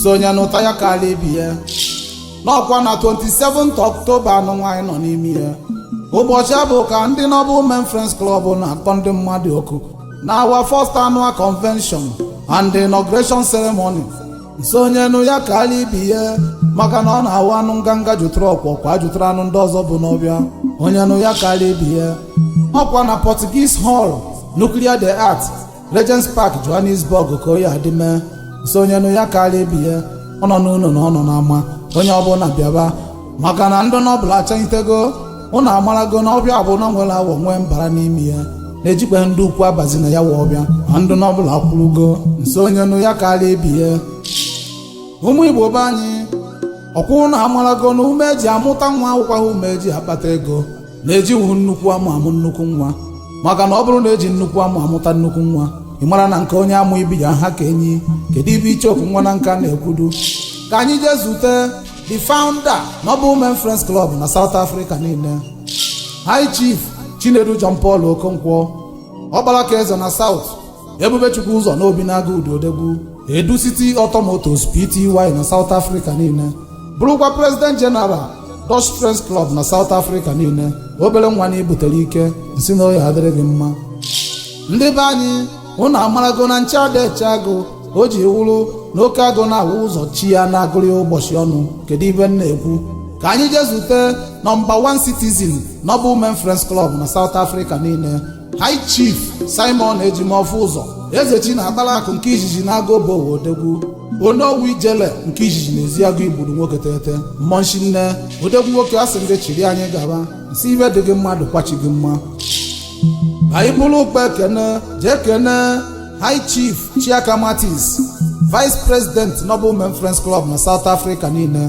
sị onye nụta ya kaalị ibe ya n'ọkwa na 27 October n'ọnwa anyị nọ n'ime ya ụbọchị afụ ka ndị Noble men friends club na-akpọ ndị mmadụ oku na our first annual convention and inauguration ceremony nsị onye nụ ya kaalị ibe ya maka na ọ na-awụ anụ nganga jụtụrụ ọkwọ kwa jụtụrụ anụ ndị ọzọ bu n'ọfịa onye nụ ya kaalị ibe ya ọkwa na Portuguese Hall Nucleo de Art Regents Park Johannesburg ka ọ ya-adị mee nsị onye nụ ya kaalị ibe ya ọ nọ n'ụlọ na ọ nọ n'ama onye ọbụla bịaba maka na ndị Noble achanyitego ụnụ amarago na ọfịa ọbụna nwere awọ nwee mbara n'ime ya na-ejikwa ndị ukwu abazi na ya wa ọfịa ma ndị Noble akwụrụgo nsị onye nụ ya kaalị ibe ya ụmụ Igbo be anyị ọkwa ụnụ amarago na ume eji amụta nwa awụkwaha ume eji akpata ego na ejighị nnukwu amụ amụ nnukwu nwa maka na ọ bụrụ na eji nnukwu amụ amụta nnukwu nwa ị mara na nke onye amụ ibi ya-aha ka enyi kedu ife icheoku nwa na nka na-ekwudu ka anyị jee zute the founder Noble Men Friends Club na South Africa niile High Chief Chinedu John Paul Okonkwo ọkpara ka eze na South Ebubechukwuzọ na Obinagụ Udi odegwu edu city auto motors pty na south africa niile bụrụkwa president general dutch friends club na south africa niile obere nwa na i butere ike nsị na ọ ya-adịrị gị mma ndị be anyị ụnụ amarago na nche ada eche agụ o ji wụrụ na oke agụ na-awụ ụzọ chi ya na-agụrụ ya ụbọchị ọnwụ kedu ife m na-ekwu ka anyị jee zute number 1 citizen Noble men friends club na south africa niile High Chief Simon Ejimọfọ Ụzọ Ezechi na-akpara akụ nke izizi n'Agụobu Ọwa odegwu onowu ijele nke izizi n'Ezeagụ Igbudu nwoke teghete mmọnwụ shinne odegwu nwoke asị m gị chịrị anyị gaba nsị ife dị gị mma dịkwa chi gị mma anyị buru ụkpa ekene jee kene high chief chiaka Martins vice president noble men friends club na south africa niile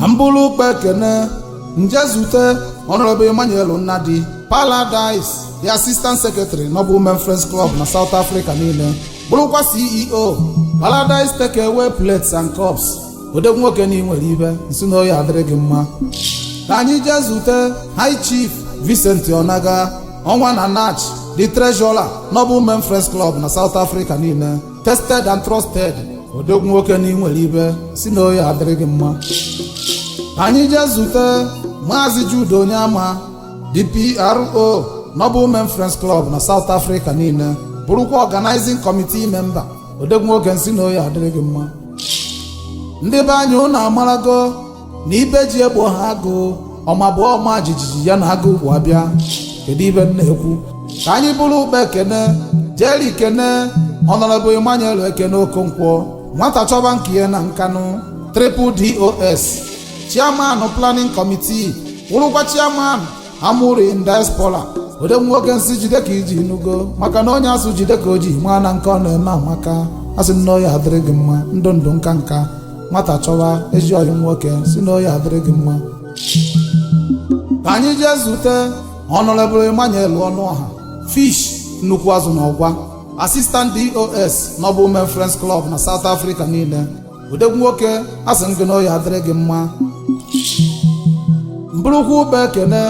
ka m buru ụkpa ekene nje zute honorable emmanuel nnadi paradise the assistant secretary Noble men friends club na south africa niile bụrụkwa ceo paradise take away plates and cups odegwu nwoke na i nwere ife nsị na ọ ya-adịrị gị mma ka anyị jee zute high chief vincent onaga ọnwa na Nachi the treasurer Noble men friends club na south africa niile tested and trusted odogwu nwoke na i nwere ife sị na ọ ya-adịrị gị mma anyị jee zute maazị Jude Onyeama the PRO Noble Men Friends Club na South Africa niile bụrụkwa organizing committee member odogwu nwoke nsị na ọ ya-adịrị gị mma ndị be anyị ụnụ amarago na ibe eji egbu nwa agụ ọma bụ ọma jijiji ya na agụ ukwu abịa kedu ibe m na-ekwu ka anyị buru ụkpa ekene jeri kene honorable emmanuel ekene okonkwo nwata chọba nke ya na nkanụ triple dos chairman planning committee wụrụkwa chairman amurri in diaspora odegwu nwoke nsị jide ka iji nugo maka na onye asị jide ka o ji maa na nke ọ na-eme amaka asị na ọ ya-adịrị gị mma ndụ ndụ nka nka nwata chọwa ezi ọyị nwoke sị na ọ ya-adịrị gị mma ka anyị jee zute honorable emmanuel ọnụọha fish nnukwu azụ na ọgwa assistant dos noble men friends club na south africa niile odegwu nwoke asị m gị na ọ ya-adịrị gị mma m burukwu ụkpa ekene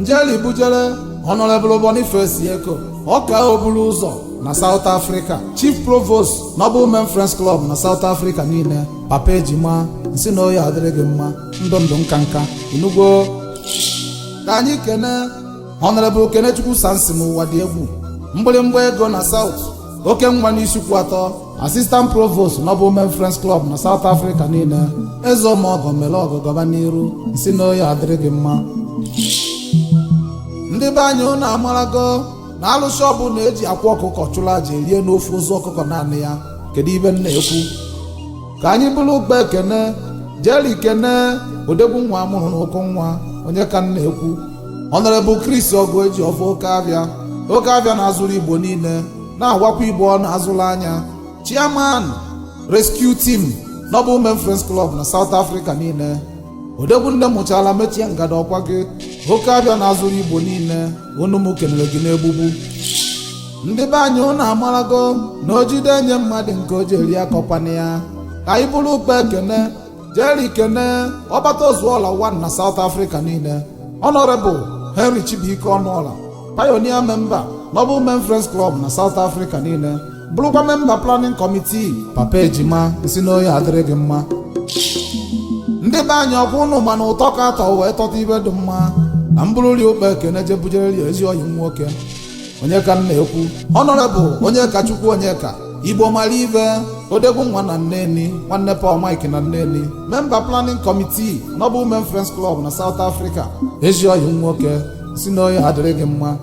njeli bujere honorable boniface eko ọka oburu ụzọ na south africa chief provost noble men friends club na south africa niile papa ejima nsị na ọ ya-adịrị gị mma ndụ ndụ nka nka ị nụgwo ka anyị kene honorable kenechukwu samson ụwa dị egwu mgbịrịmgba ego na south oke nwa n'isuikwuatọ assistant provost noble men friends club na south africa niile eze omeọgọ mere ọgọ gaba n'iru nsị na ọ ya-adịrị gị mma ndị be anyị ụnụ amarago na alụsị ọbụla eji akwa ọkụkọ chụrụ aja eriene ofu ozu ọkụkọ naanị ya kedu ibe m na-ekwu ka anyị buru ụkpa ekene jeri kene odegwu nwa amụrụ n'ụkọ nwa onye ka m na-ekwu honorable chris ọgụ eji ọfọ oke abịa oke abịa na-azụrụ igbo niile na-agwakwa igbo ọnụ azụla anya chairman rescue team Noble Men Friends Club na South Africa niile odegwu nne mụchala mechie ngada ọkwa gị oke abịa na azụrụ igbo niile unu m kelere gị n'egbugbu ndị be anyị ụnụ amarago na o jide nye mmadụ nke o ji eri akọkwana ya ka anyị buru ụkpa ekene jeri kene ọbata ozuola one na south africa niile honorable henry chibuike ọnụọla pioneer member noble men friends club na south africa niile bụrụkwa member planning committee papa ejima nsị na ọ ya-adịrị gị mma ndị be anyị ọkwa ụnụ ma na ụtọ ka atọ wee tọta ibe dị mma na m bururi ụkpa ekene jebujere ya ezi ọyị nwoke onye ka m na-ekwu honorable onyekachukwu onye ka igbo mara ive odegwu nwa na nneni nwanne paul mike na nneni member planning committee noble men friends club na south africa ezi ọyị nwoke nsị na ọ ya-adịrị gị mma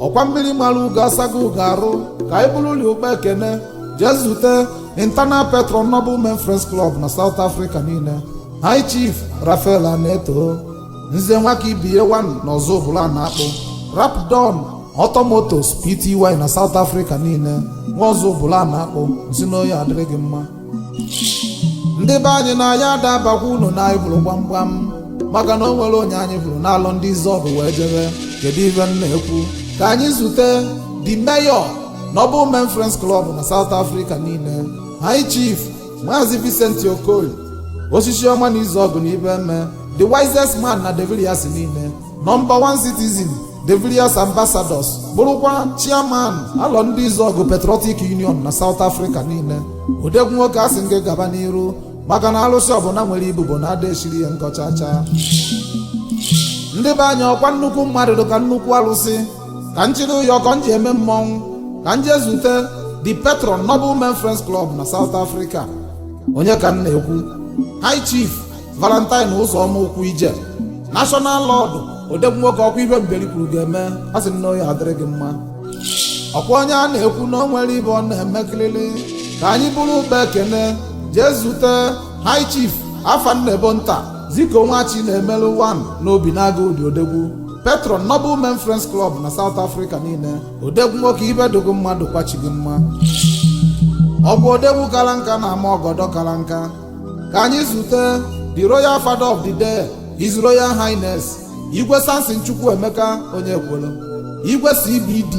ọkwa mmiri mara ugo asago ugo arụ ka anyị bururi ụkpa ekene jee zute internal patron noble men friends club na south africa niile high chief rafael aneto nze nwakaibeya wan na ọzụbụlụ na-akpụ rapdon automotors pty na south africa niile nwa ọzụbụlụ na-akpụ m sị na ọ ya-adịrị gị mma ndị be anyị na ya adabakwa unu na anyị buru gbamgbam maka na o nwere onye anyị buru n'alọ ndị izuọgụ wee jebe kedu ive m na-ekwu ka anyị zute the mayor noble men friends club na south africa niile high chief maazị Vincent Okoye osisi ọma na izuọgụ na iheme the wisest man na de villiers niile nọmba 1 citizen de villiers ambassadors bụrụkwa chairman alọ ndị izuọgụ patriotic union na south africa niile odegwu nwoke asị m gị gaba n'iru maka na alụsị ọbụla nwere ibubo na ada esiri ya nkọchacha ndị be anyị ọkwa nnukwu mmadụ dị ka nnukwu alụsị ka m chịrị ụyọkọ m ji eme mmọnwụ ka m jee zute the patron noble men friends club na south africa onye ka m na-ekwu high chief valentine ụzọma ụkwụ ije national lord odegwu nwoke ọkwa ive mberi kwuru ga-eme asị m na ọ ya-adịrị gị mma ọkwa onye a na-ekwu na o nwere ive ọ na-eme kịrịrị ka anyị buru ụkpa ekene jee zute high chief afam nebo nta ziko nwachinaemelụ wan n'obinagụ udi odegwu patron noble men friends club na south africa niile odegwu nwoke ive dị gị mma ọ dịkwa chi gị mma ọ bụ odegwu kara nka na-ama ọgọdọ kara nka ka anyị zute the royal father of the day his royal highness igwe samson chukwuemeka onyekwelu igwe cbd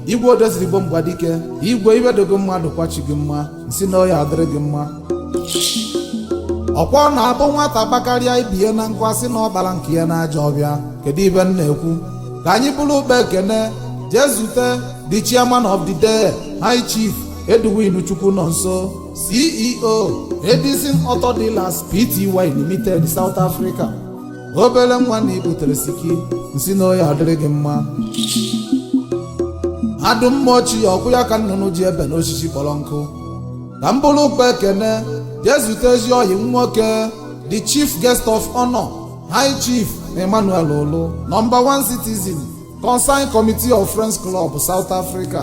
igwe odezirigbo mgbadike igwe ive dị gị mma ọ dịkwa chi gị mma m sị na ọ ya-adịrị gị mma ọkwa ọ na-abụ nwata kpakarịa ibe ya na nkụ a sị na ọ kpara nke ya n'ajọ ọvịa kedu ive m na-ekwu ka anyị buru ụkpa ekene jee zute the chairman of the day high chief edwin chukwunọnso ceo edison auto dealers pty limited south africa obere nwa na ibutere siki m sị na ọ ya-adịrị gị mma adụ mma ọchị ya ọkwụ ya ka nnụnụ ji ebe n'osisi kpọrọ nkụ ka m buru ụkpa ekene jee zute ezi ọyị m nwoke the chief guest of honor high chief emmanuel olu nọmba one citizen concern committee of friends club south africa